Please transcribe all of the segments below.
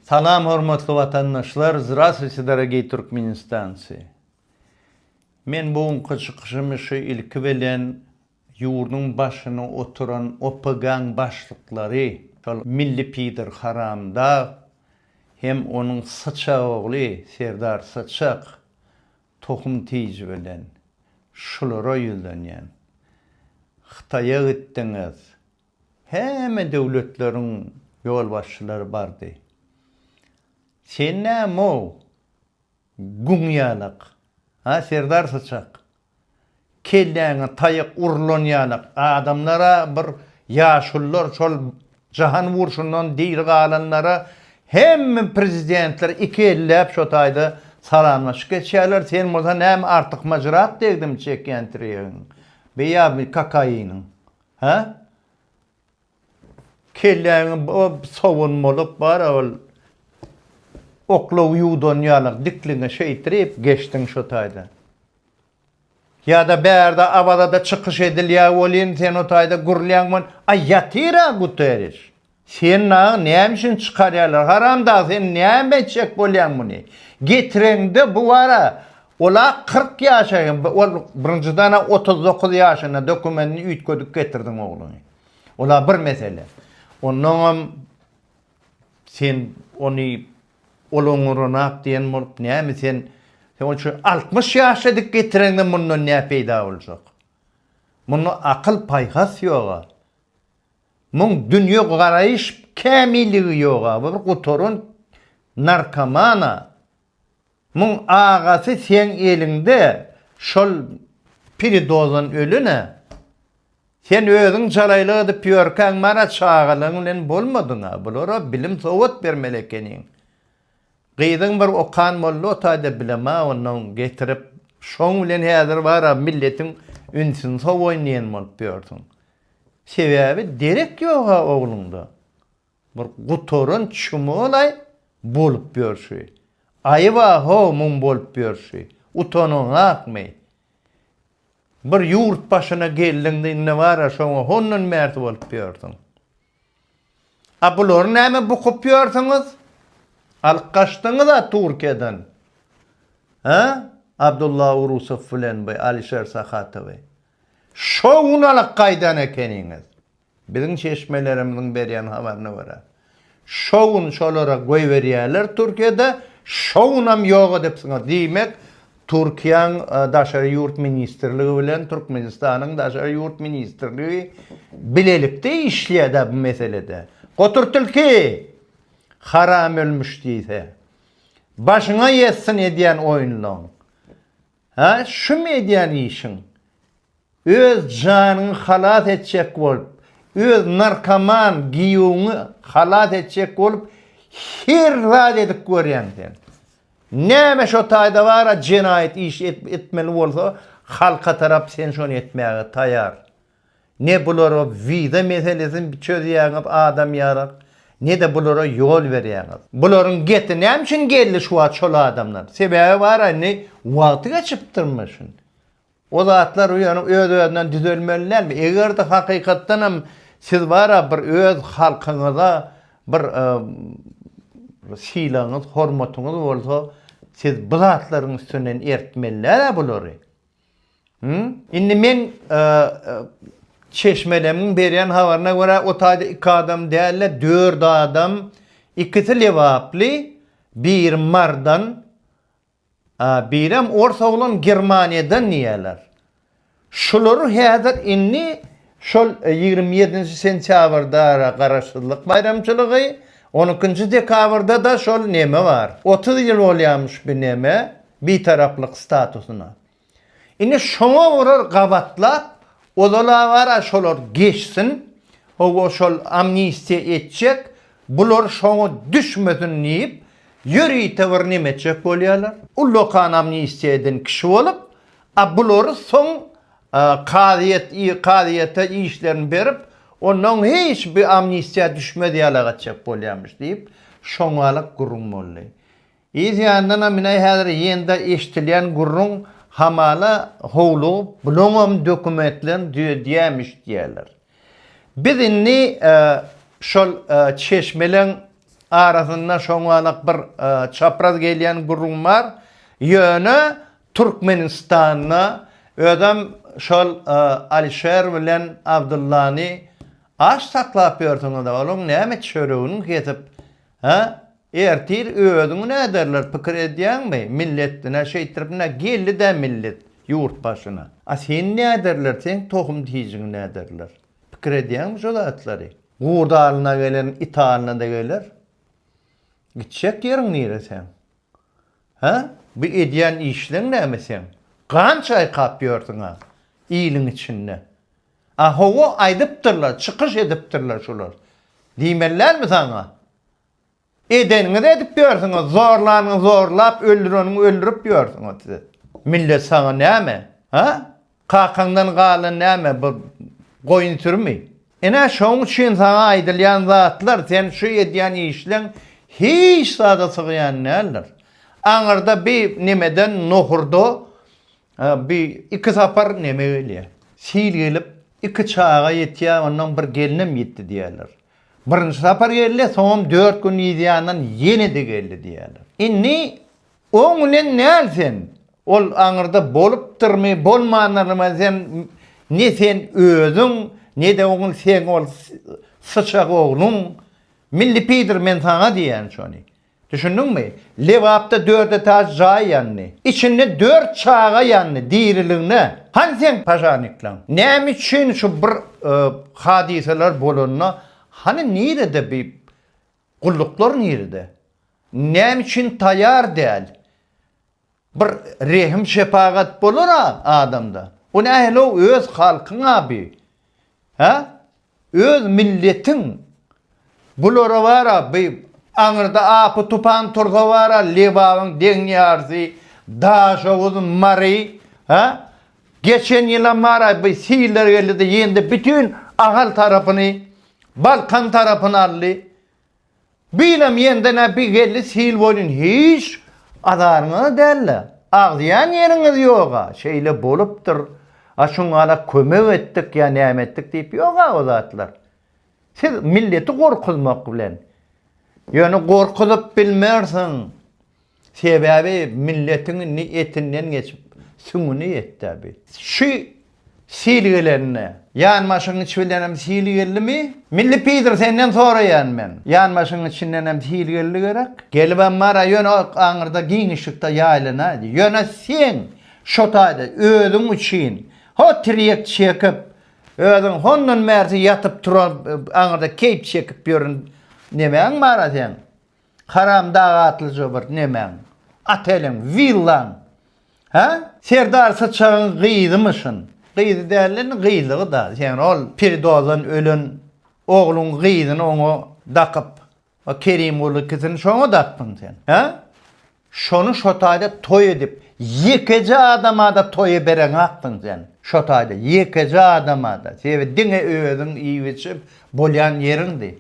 Salam hormatly watandaşlar Zdrastwyçe dorogiý Türkmenistanci Men bu günki çykyşymy şu ilki bilen ýurduň başyny oturan OPGaň başlyklary şol milli pider haramdag hem onuň syçag ogly Serdar Syçak tohum tiji bilen şulara ýüzlenýän Hytaýa gitdiňiz Hemme döwletleriň ýolbaşçylary bardy. Sen näme-ow, guň ýalak, a serdar syçak? Kelläňe taýak urulan ýalak adamlar-a bir ýaşulylar şol jahan urşundan diri galanlara hemme prezidentler iki elläp şo taýda salamlaşyk geçýärler, sen bolsa näme artykmajrak degdimi çekýän tiregiň, beýa kakaýynyň, Hä? Kelläňi sowun bolup bar-a ol. Oklaw ýuwdan ýalak dikliňe şeýtirip geçdiň şo taýda. Ýa-da bärde Awazada çykyş edilýär welin sen o taýda gürlýäň men, Aý ýatyr-a Guterriş! Sen nagy näme üçin çykarýarlar? Haramdag sen näme etjek bolýaň muny? Getireňde bu bara ol-a kyrk ýaşaýan ol birinjiden-ä otuz dokuz ýaşynda dokumentini üýtgedip getirdiň ogluňy. Ol-a bir mesele. Onnoňam sen ony ol oňuranap diýen bolup näme sen sen ol şu altmyş ýaşda dik getireňde mundan nä peýda boljak? Munda akyl-paýhas ýog-a. Muň dünýe garaýyş kämilligi ýoga bir gutaran narkomana muň agasy seň eliňde şol piridozan ölene sen özüň jalaýlyk edip ýörkäň mara çagalaň bilen bolmadyňa bulara bilim sowat bermeli ekeniň gyzyň bir okan boldy otaýda bilema ondan getirip şoň bilen häzir bara milletiň ünsüni sowaýyn diýen bolup ýörsüň Sebäbi derek ýoga ogluňda bir gutaran çmolaý bolup ýörşi. Aýyba how mum bolup ýörşi. Utanyňakmy? Bir ýurt başyna geldiňde indi bara şoňa hondan märd bolup ýörsüň. A bulary näme bukup ýörsiňiz? Alyp gaçdyňyza Turkiýadan. He? Abdulla Urusow bilen bu Alişer Sahatowy. Şo gün alyp gaýdan ekeniňiz. Biziň çeşmelerimiziň berýän habaryna görä, şo gün şolara goýberýärler Türkiýede, şo günam ýok edipsiňiz. Diýmek, Türkiýäň Daşary ýurt ministrligi bilen Türkmenistanyň Daşary ýurt ministrligi bilelikde işleýär-dä bu meselede. Gotur tilki! Haram ölmüş diýse. Başyňa ýetsin edýän oýunlaň. Hä, şumy edýän işiň? Öz janyňy halas etjek bolup, öz narkoman giýewiňi halas etjek bolup her zat edip görýäň sen. Näme şo taýda bar-a jenaýat iş etmeli bolsa, halka tarap sen şony etmäge taýar. Ne bulara wiza meselesini çözýäňiz adam ýarak, ne-de bulara ýol berýäňiz. Bularyň geti näme üçin geldi şu wagt şol adamlar? Sebäbi bar-a indi wagty geçipdirmi şuny? O zatlar ýöne öz-özünden düzelmeli dälmi? Eger-de hakykatdan hem siz bar-a bir öz halkyňyza bir sylagyňyz, hormatyňyz bolsa, siz bu zatlaryň üstünden ertmeli däl-ä bulary. Indi men çeşmelemiň berýän habaryna görä, o taýda iki adam däl-de, dört adam, ikisi lebaply, biri mardan, birem ors oglan Germaniýadan diýýärler. Şulary häzir indi şol ýigrimi ýedinji sentýabrda Garaşsyzlyk baýramçylygy, on ikinji dekabrda-da şol neme bar. Otuz ýyl bolýarmyş bu neme. Bitaraplyk statusyna. Indi şoňa olar gabatlap, ozal-a bar-a şolar geçsin, hawa şol amnistiýa etjek, bular şoňa düşmesin diýip, ýörite bir neme etjek bolýarlar. Ullakan amnistiýa eden kişi bolup, a bulary soň kazyýet kazyýete işlerini berip, onnoň hiç bir amnistiýa düşmez ýalagatjak bolýarmyş diýip, şoňa-la gürrüň boldy. Yz ýandanam mine häzir ýende eşdilýän gürrüň hamala howlugyp bulaňam dokumentlerini düzedýämiş diýýärler. Biz indi şol çeşmeleň arasynda şoňalak bir çapraz gelýän gürrüň bar, ýöne Türkmenistanda özem şol Alişer bilen Abdyllany aç saklap ýörsiňiz, olaň näme çöregini kesip, hä, Ertir özüňi näderler pikir edýäňmi milletdine şeýtiripne geldidä millet ýurt başyna a seni näderler seň tohum tijiňi näderler pikir edýäňmi şo zatlary gurt alyna gelen it alynada geler gitjek ýeriň nire seň hä bu edýän işleň näme seň gan çaýkap ýörsüňa iliň içinde a howa aýdypdyrlar çykyş edipdirler şular diýmelidälmi saňa Edeniňizi edip ýörsüňiz, zorlanyňy zorlap, öldüreniňi öldürip ýörsüňiz siz. Millet saňa näme? Ha? Kakaňdan galan näme bu goýun sürümi? Ine şoň üçin saňa aýdylýan zatlar, sen şu edýän işleň hiç zada sygýan däldir. Aňyrda bi nemeden nohurda bi iki sapar neme gelýär? Sil gelip, iki çaga ýetýär, ondan bir gelnem ýetdi diýerler. Birinji sapar geldi, soňam dört gün yzýandan ýene-de geldi diýýärler. Indi oň bilen näl sen? Ol aňyrda bolupdyrmy, bolmandyrmy sen ne sen özüň, ne-de oňul seň ol syçak ogluň. Milli pidir men saňa diýýän şony. Düşündiňmi? Lebapda dört etaž jaý ýandy. Içinde dört çaga ýandy diriligine. Hany seň pažarnikleň? Näme üçin şu bir hadysalar bolanda hany nirede bi gulluklar nirede? Näme üçin taýar däl? Bir rehim-şepagat bolar-a adamda. O nähili-ow öz halkyň aby? Hä? Öz milletiň. Bulara bar-a bi aňyrda apy-tupan tursa bar-a Lebabyň deňňýarysy, Daşoguz, Mary, hä? Geçen ýylam bar-a bi siller geldi-de ýendi bütin Ahal tarapyny, Balkan tarapyny aldy. Binem ýende-nä bi geldi sil boýnun hiç azaryňyz däl-le. Agzýan ýeriňiz ýog-a, şeýle bolupdyr, a şuňala kömek etdik ýa näme etdik diýip ýog-a o zatlar. Siz milleti gorkuzmak bilen. Ýöne gorkuzyp bilmersiň. Sebäbi milletiň indi etinden geçip, süňňüne ýetdi-ä bi. Şu sil gelende, ýanbaşyň içi bilenem sil geldimi? Milli pidr, senden soraýan men. Ýanbaşyň içindenem sil geldi gerek? Gelibem bar-a, ýöne o aňyrda giňişlikde ýaýlanaýdy. Ýöne sen şo taýda özüň üçin ho tirýek çekip, özüň hondan bärsi ýatyp-turup, aňyrda keýp çekip ýören nemäň bar-a seň? Haram dag atlyja bir nemäň, oteliň, willaň. Hä? Serdar Syçagyň gyzymy şun? Gyzy däl indi gyzygy-da. Sen ol peridozdan ölen ogluň gyzyny oňa dakyp, o Kerimguly ikisini şoňa dakdyň sen. Hä? Şony şo taýda toý edip, ýekeje adama-da toýa bereňaksyň sen. Şo taýda, ýekeje adama-da. Sebäbi diňe özüň iýip-içip bolýan ýeriňdi.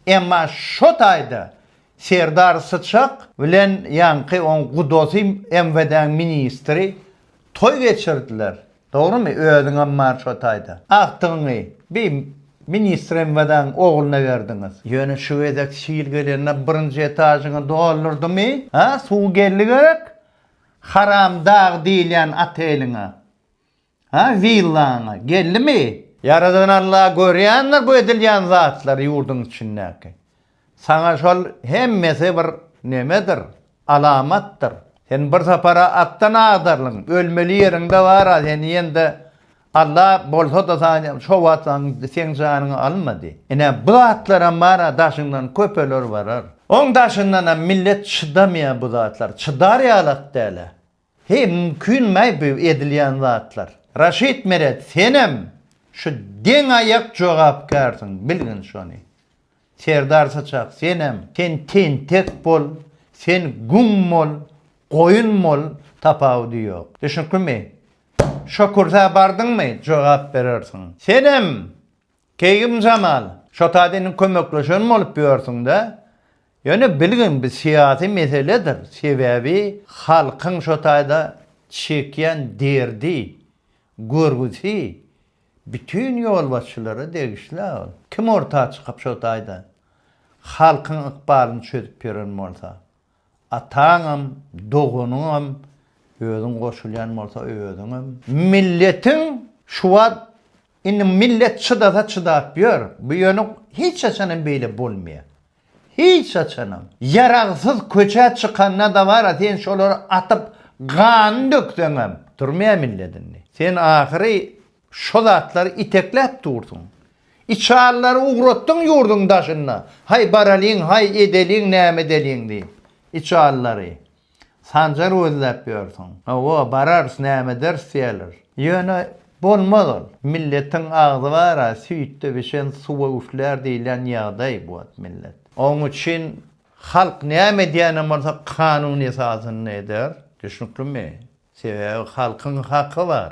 Emma şo taýda Serdar Syçak bilen ýaňky oň gudosy MWD-niň ministri toý geçirdiler. Dogrymy özüňem bar şo taýda. Agtygyňy bi ministr MVD-niň ogluna berdiňiz. Ýöne şu gezek sil gelende birinji etažyňy doldurdymy? Hä suw geldi gerek haram dag diýilýän oteliňe. Hä villaňa geldimi? Ýaradan Allah görýändir bu edilýän zatlary ýurduň içindäki. Saňa şol hemmesi bir nemedir, alamatdyr. Sen bir sapar-a atdan agdarylyň, ölmeli ýeriň-de bar-a, sen diýende, Alla bolsa-da saňa şo wagt saň seň janyňy almady. Ine, bu zatlaram bar-a, daşyňdan köpeler barar. Oň daşyndanam millet çydamaýar bu zatlar, çydar ýalak däl-ä. Heý mümkinmaý bu edilýän zatlar. Raşid Meret senem şu deň aýak jogapkärsiň bilgin şony. Serdar Saçak senem sen tentek bol sen güm bol goýun bol tapawudy ýok. Düşnüklimi? Şo kürsä bardyňmy jogap berersiň. Senem Keýgim Jamal, şo taýda indi kömekleşen bolup ýörsüň-dä. Ýöne bilgin bu syýasy meseledir. Sebäbi halkyň şo taýda çekýän derdi, görgüsi bütin ýolbaşçylara degişli-ä ol. Kim orta çykyp şo taýda halkyň ykbalyny çözüp ýören bolsa. Ataňam, doganyňam, özüň goşulýan bolsa özüňem. Milletiň şu wagt indi millet çydasa çydap ýör. Bu ýöne hiç haçan hem beýle bolmaýar. Hiç haçanam. Ýaragsyz köçä çykanda dabara sen şolary atyp ganyny dökseňem durmaýar millet indi. Sen ahyry Şo zatlary itekläp dursuň. Içalylary ugratdyň ýurduň daşyna, haý baralyň, haý edeliň näme edeliň diýip, içalylary. Sanjar gözläp ýörsüň. Hawa, bararys, näme ederis diýerler. Ýöne, bolmaz ol. Milletiň agzy bar-a, süýtde bişen suwa üflär diýilýän ýagdaý bu wagt millet. Oň üçin halk näme edýänem bolsa kanun esasynda eder. Düşnüklimi? Sebäbi halkyň haky bar.